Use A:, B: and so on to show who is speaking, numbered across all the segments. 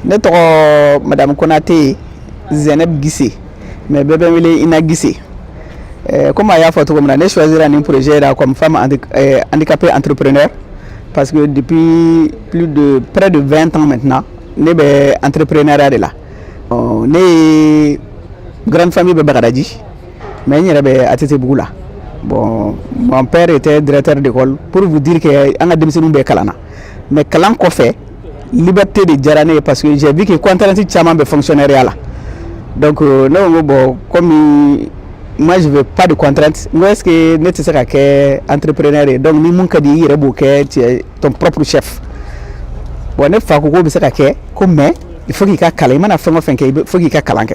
A: ne tɔgɔ madamu konate zɛnɛb gise mais bɛɛ bɛ n wele ina gise eh, comme a y'a fɔ cogo min na ne choisira nin projet la comme femme eh, handicapée entrepreneur parce que depuis plus de près de 20 ans maintenant ne bɛ entrepreneuriat de la oh, ne ka grande famille bɛ bagadaji mais n yɛrɛ bɛ atetebugu la bon mon père était directeur d'école pour vous dire que an ka denmisɛnninw bɛɛ kalanna mais kalan kɔfɛ Liberté de diyara ne ye parce que j'ai vu que contrainte caman bɛ fonctionnariat la donc euh, ne ko n ko bon comme moi je veux pas de contrainte n ko est ce que ne tɛ se ka kɛ entrepreneur ye donc ni min ka di i yɛrɛ b'o kɛ tu es ton propre chef bon ne fa ko k'o bɛ se ka kɛ ko mais il faut k'i ka kalan i mana fɛn o fɛn kɛ il faut k'i ka kalan kɛ.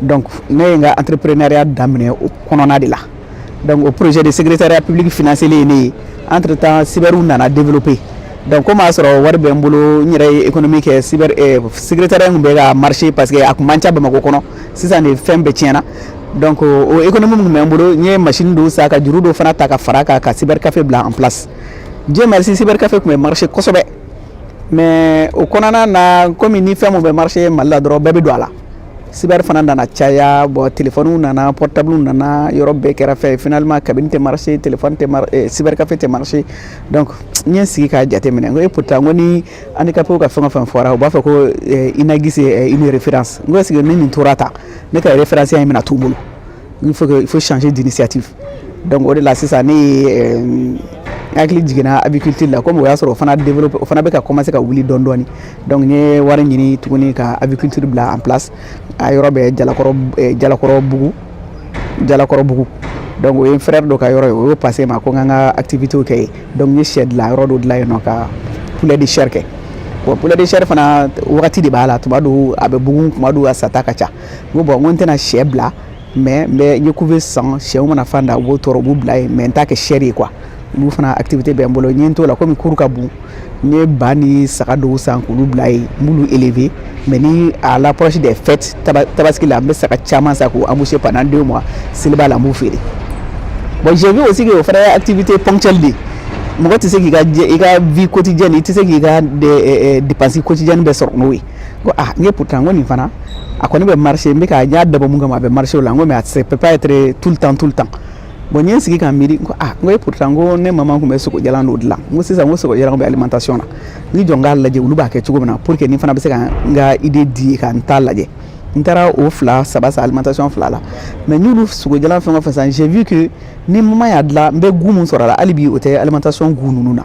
A: donc ne ye n ka entrepreneuriat daminɛ o kɔnɔna de la donc o projet de secrétariat public financéra ne ye entre temps cyberw nana développer donc komi a sɔrɔ wari bɛ n bolo n yɛrɛ ye économie kɛ cyber eh, secrétariat tun bɛ ka marcher parce que a tun man ca bamakɔ kɔnɔ sisan de fɛn bɛɛ tiɲɛna donc o économie min bɛ n bolo n ye machine dɔw san ka juru dɔw fana ta ka fara kan ka cyber café bila en place dieu merci cyber café tun bɛ marcher kosɛbɛ mais o kɔnɔna na komi ni fɛn min bɛ marcher mali la dɔrɔn bɛɛ bɛ don a la cyber fana nana caya bon telefɔniw nana portablew nana yɔrɔ bɛɛ kɛra fɛn ye finalement cabine tɛ marcher telefɔni tɛ eh, cyber café tɛ marcher donc n ye n sigi k'a jateminɛ n ko e pourtant n ko ni handicapéw ka fɛn o fɛn fɔra u b'a fɔ ko eh, ina gise eh, une référence n ko est ce que ni n tora tan ne ka référenceya in bɛna to n bolo il faut il faut changer d'initiative donc o de la sisan ne ye euh, hakili jiginna aviculture la komi o y'a sɔrɔ o fana développe o fana bɛ ka commencer ka wuli dɔɔni dɔɔni donc n ye wari ɲini tuguni ka aviculture bila en place a yɔrɔ bɛ jalakɔrɔ euh, jalakɔrɔbugu jalakɔrɔbugu donc o ye n frère dɔ ka yɔrɔ ye o y'o passer n ma ko n ka n ka activité kɛ yen donc n ye sɛ dilan yɔrɔ dɔ dilan yen n bɛ ka poulet de chair kɛ bon poulet de chair fana wagati de b'a la tuma dɔw a bɛ bugun tuma dɔw a sata ka ca n ko bon n ko n tɛna sɛ bila mais n bɛ ɲɛku bɛ san sɛw mana fan da u b'o tɔrɔ u b'u bila yen mais n t'a kɛ sɛ de ye quoi olu fana activité bɛ n bolo n ye n t'o la komi cour ka bon n ye ba ni saga dɔw san k'olu bila yen n b'olu élever mais ni à l'approche des fêtes tabaski la n bɛ saga caman san k'u emboucher pendant deux mois seliba la n b'u feere bon j'ai vu aussi que o fana ye activité ponctuelle de ye mɔgɔ tɛ se k'i ka i ka vie quotidienne i tɛ se k'i ka dépense quotidienne bɛɛ sɔrɔ n'o ye ko ah n ko e pourtant ko nin fana a kɔni bɛ marcher n bɛ ka n y'a dabɔ min kama a bɛ marché la n ko mais a tɛ ça peut pas être tout le temps tout le temps bon n ye n sigi ka miiri ko ah n ko e pourtant ko ne maman tun bɛ sogojalan dɔ dilan n ko sisan ko sogojalan bɛ alimentation na n jɔ n k'a lajɛ olu b'a kɛ cogo min na pour que nin fana bɛ se ka n ka idée di ka n ta lajɛ n taara o fila saba san alimentation fila la mais n y'olu sogojalan fɛn o fɛn san j'ai vu que ni maman y'a dilan n bɛ goût min sɔrɔ a la hali bi o tɛ alimentation goût ninnu na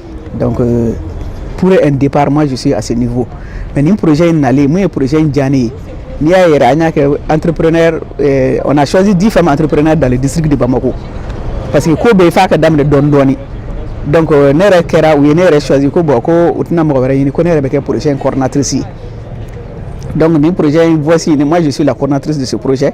A: donc euh, pour un départ moi je suis à ce niveau mais nin projet in nalen mun ye projet in diya ne ye n'i y'a yɛrɛ an y'a kɛ entrepreneur euh, on a choisi dix femmes entrepreneurs dans le district de Bamako parce que ko bɛɛ f'a ka daminɛ dɔɔni dɔɔni donc euh, ne yɛrɛ kɛra u ye ne yɛrɛ choisi ko bon ko u tɛna mɔgɔ wɛrɛ ɲini ko ne yɛrɛ bɛ kɛ projet in coordinatrice ye donc nin projet in voici moi je suis la coordinatrice de ce projet